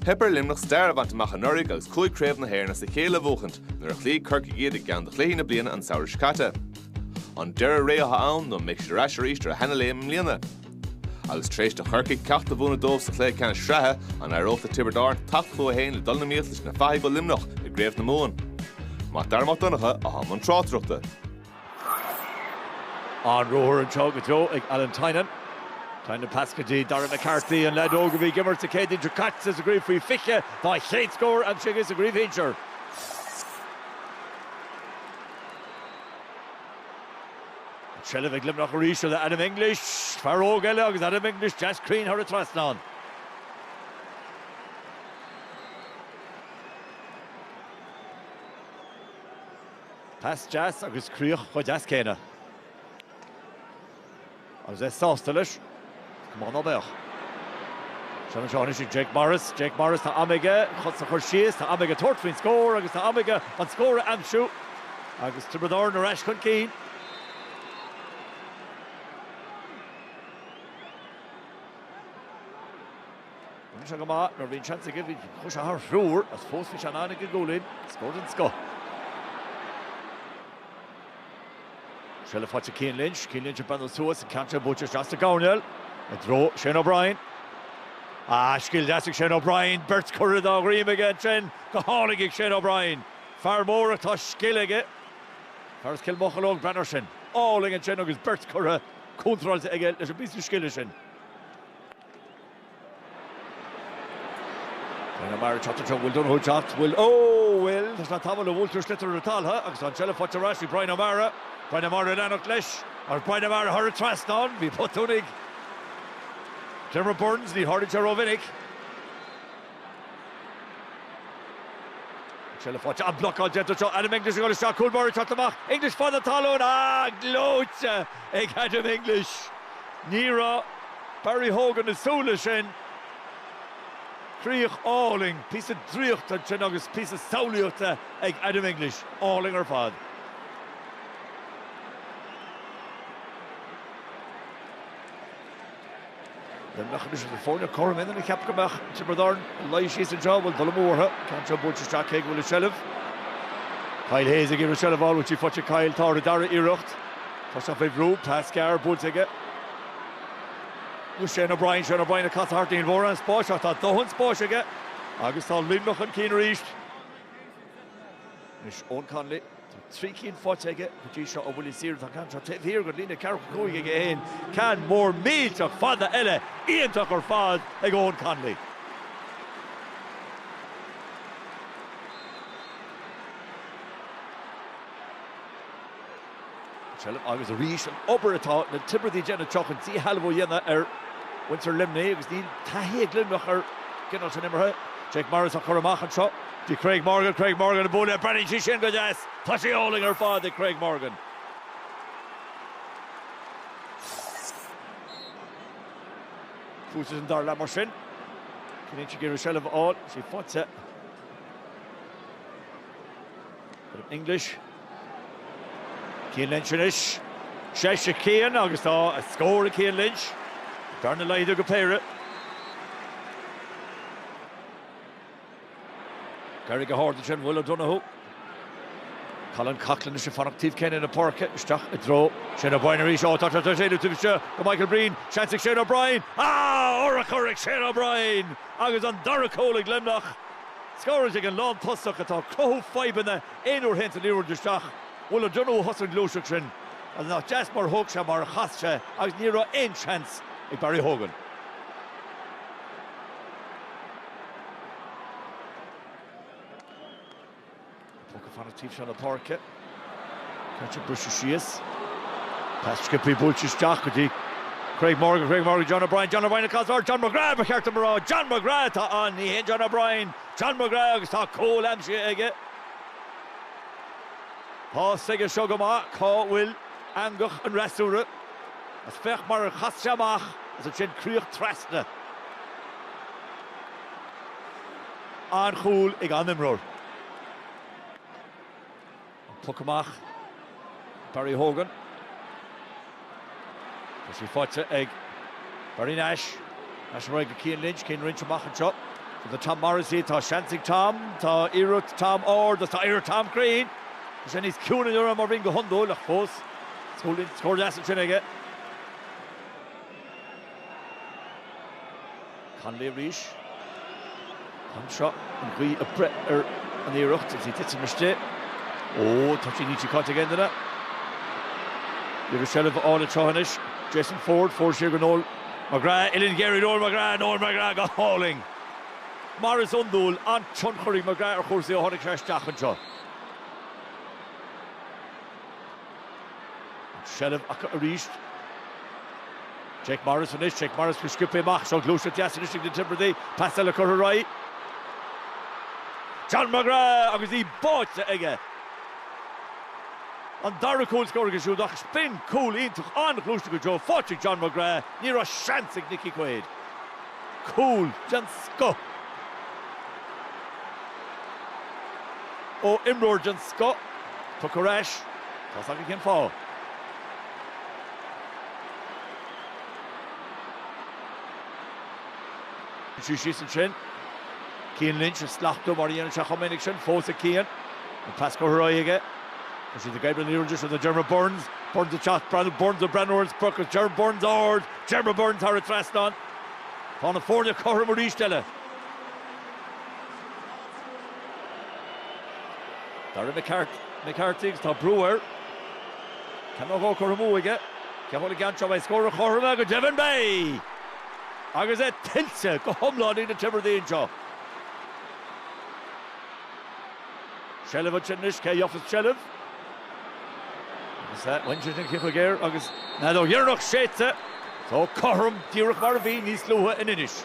Theip ar Luimneach stair a bhaint amach anuraidh agus cúig Chraobh na hÉireann as a chéile a bhuachaint nuair a chloígh Corcaigh iad i gceann de chluichí na bliana an samhradh seo caite. An deireadh ré atá ann nó an mbeidh siad ar ais arís ar a seana-léim i mbliana? Agus tar éis do Chorcaigh ceacht a mhúineadh dóibh sa chluiche ceannais sraithe, an éireoidh le Tiobraid Árann teacht chucu féin le dul in iomaíocht leis na fathaigh ó Luimneach i gCraobh na Mumhan? Mac Dara Mac Donncha atá i mbun tráchtaireachta. An-ruathar anseo go deo ag Alan Tynan. Tynan pas go dtí Darragh McCarthy, an leaid óg a bhí ag imirt an Chéadaoin seo caite sa gcraobh faoi 20, tá a chéad scór aimsithe aige sa gcraobh shinsir. An tseilbh ag Luimneach arís le Adam English, fear óg eile agus Adam English deas cruinn thar an trasnán. Pas deas agus críoch chomh deas céanna. Agus é sásta leis. Cén fáth ná beadh. Seans anseo anois ag Jake Morris. Jake Morris tá am aige chun é a chur síos, tá am aige tabhairt faoin scór agus tá am aige an scór a aimsiú. Agus Tiobraid Árann ar ais chun cinn. Bíonn sé go maith nuair a bhíonn seans aige, bhí sé thar thriúr agus fós bhí sé in ann ag an gcúilín, scór den scoth. Seilbh faighte ag Cian Lynch, Cian Lynch ag breathnú suas, an ceann seo buailte isteach sa gcoirnéal, i dtreo Shane O'Brien. Ah, scil deas ag Shane O'Brien, beirt curtha dá dhroim aige ansin, go hálainn ag Shane O'Brien. Fear mór ach tá scil aige, fear as Cill Mocheallóg, breathnaigh ar sin. Álainn ansin agus beirt curtha contráilte aige leis an bpíosa scile sin. Bryan O'Mara ag teacht anseo, Will O'Donoghue ag teacht? Bhfuil, ó bhfuil, tá sé ag tabhairt buailtear an sliotar ar an talamh agus tá an tseilbh faighte ar ais ag Bryan O'Mara. Bryan O'Mara ag leanacht leis, agus Bryan O'Mara thar an trasnán, bhí botún ag Diarmaid Byrnes, ní tharlaíonn sé rómhinic. An tseilbh faighte, an blocáil déanta anseo, Adam English ag dul isteach, cúl báire ag teacht amach, English fan na talún, ah, gleoite ag Adam English. Ní raibh Barry Hogan ag súil leis sin. Críoch álainn, píosa draíochta ansin agus píosa samhlaíochta ag Adam English. Álainn ar fad. The mechanism to forge a quorum in a cheap go mbeadh Tiobraid Árann ag luí síos an trá bhfuil buille mór an ceann seo buailte isteach cé aige a bhfuil an tseilbh Kyle Hayes ag iarraidh seilbh a fháil an bhfuil sí faighte Kyle tá ar an dara iarracht tá sé faoi bhrú, pas gearr buailte aige i dtreo Shane O'Brien Shane O'Brien ag casadh thart níl mórán spáis ach tá dóthain spáis aige agus tá Luimneach chun cinn arís anois Eoin Connolly. Tá trí cinn faighte aige go dtí seo ó bhuillí saora. Tá ceann seo taobh thiar den líne ceathrú cúig aige féin. Ceann mór millteach fada eile iontach ar fad ag Eoghan Connolly. Seilbh agus arís an obair atá na Tiobradaigh ag déanamh anseo chun dísheilbh a dhéanamh ar mhuintir Luimnigh agus níl taithí ag Luimneach ar an gcineál sin imeartha. Jake Morris á chur amach anseo do Craig Morgan. Craig Morgan ag bualadh le Brennan. Tá sé sin go deas. Tá sé álainn ar fad ag Craig Morgan. Tús leis an dara leath mar sin. Cinnfidh sí go dtiocfaidh seilbh a fháil. Sí faighte. English. Cian Lynch anois. Seo é Cian agus tá scór ag Cian Lynch. Bearna laghdaithe go péire. D'éirigh go hard ansin Will O'Donoghue. Colin Coughlan anois ag fanacht taobh céanna na páirce, isteach i dtreo Shane O'Brien arís. Ó, tá sé tar éis éalú taobh istigh de Michael Breen. Seans ag Shane O'Brien. Ah! Urchar ag Shane O'Brien agus an dara cúl ag Luimneach. Scóráilte ag an lántosach atá ag cothú fadhbanna. Aon uair a théann an liathróid isteach, Will O'Donoghue a thosaigh an ghluaiseacht sin agus nach deas mar a thóg sé mar a chas sé agus ní raibh aon seans ag Barry Hogan. An puc ag fanacht taobh seo na páirce. Caite briseadh síos. Pas Skippy buailte isteach go dtí Craig Morgan, Craig Morgan, John O'Brien, John O'Brien ag casadh nó John McGrath, ba cheart an mná John McGrath atá ann, ní hé John O'Brien. John McGrath agus tá cúl aimsithe aige. Tá a fhios aige seo go maith cá bhfuil eangach an fhreasúra agus féach mar a chas sé amach agus ansin críoch trasna. An-chúl ag an imreoir. An poc amach, Barry Hogan. Tá sí faighte ag Barry Nash. Nash ar aghaidh go Cian Lynch, Cian Lynch amach anseo do Tom Morrissey. Tá seans ag Tom, tá iarracht Tom ard agus tá iarracht Tom cruinn. Tá sé níos ciúine inniu ná mar a bhíonn go hiondúil ach fós scór deas ansin aige. Connolly arís. Cam seo an ghaoth ag breith ar an iarracht is í ag titim istigh. Ó, tá sí níl sí caite ag aon duine. Iarracht seilbh a fháil anseo anois. Jason Forde, Forde siar go Noel McGrath. Uillinn ghéar ag Noel McGrath, Noel McGrath go hálainn. Mar is iondúil, an-tionchar ag McGrath ar chúrsaí ó tháinig sé isteach anseo. An tseilbh acu arís. Jake Morris anois, Jake Morris go scioptha amach, seo gluaiseacht deas anois ag na Tiobradaigh, pas eile curtha ar aghaidh. John McGrath agus í báite aige. An dara cúl scór aige siúd ach sin cúl iontach ón ngluaiseacht go deo, báite ag John McGrath, ní raibh seans ag Nicky Quaid. Cúl den scoth ó imreoir den scoth. Tugtha ar ais. Tá a fhios againn cén fáth. Siú síos ansin. Cian Lynch ag slachtú mar a dhéanann sé chomh minic sin, fós ag Cian. An pas curtha uaidh aige. Is iad ag oibriú an liathróid sin do Diarmaid Byrnes. Byrnes ag teacht, Diarmaid Byrnes do Diarmaid Byrnes, Byrnes, Diarmaid Byrnes ard. Diarmaid Byrnes thar an trasnán. Tá na foirne cothrom arís eile. Darragh McCarthy agus tá brú air. Ceann nó dhó curtha amú aige. Caithfidh sé a fháil an ceann seo? Beidh scór an chothroma go deimhin beidh! Agus é tuillte go hiomlán ag na Tiobradaigh anseo. Seilbh ansin anois, cé a gheofas seilbh? Agus bhain sé sin ciceaidh air agus an fheadóg dheireanach séidte. Tá cothrom díreach mar a bhí níos luaithe in Inis.